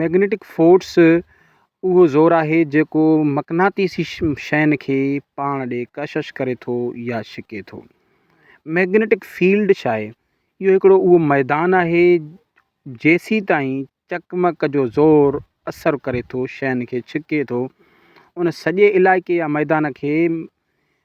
Magnetic force اهو زور آهي جيڪو مقناطيسي شين کي پاڻ ڏي ڪشش ڪري ٿو يا ڇڪي ٿو. مئگنيٽڪ فيلڊ ڇا آهي؟ اهو هڪڙو اهو ميدان آهي جيسيتائين چقمق جو زور اثر ڪري ٿو شين کي ڇڪي ٿو ان سڄي علائقي يا ميدان کي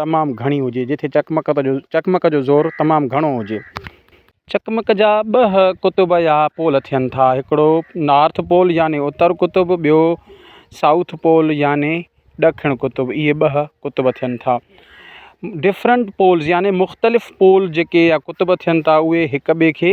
تمام گهڻي هجي، جتي چقمق جو زور تمام گهڻو هجي. چقمق جا ٻه قطب يا پول ٿين ٿا، هڪڙو نارٿ پول يعني اتر قطب، ٻيو سائوٿ پول يعني ڏکڻ قطب، اهي ٻه قطب ٿين ٿا. ڊفرنٽ پولز يعني مختلف پول جيڪي يا قطب ٿين ٿا اهي هڪ ٻئي کي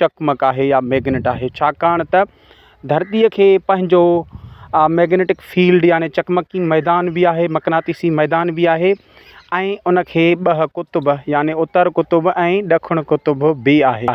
چقمق آهي يا ميگنيٽ آهي ڇاڪاڻ ته ڌرتيء کي پنهنجو ميگنيٽڪ فيلڊ يعني چقمقي ميدان به آهي مقناطيسي ميدان به آهي ۽ ان کي ٻه قطب يعني اتر قطب ۽ ڏکڻ قطب به آهي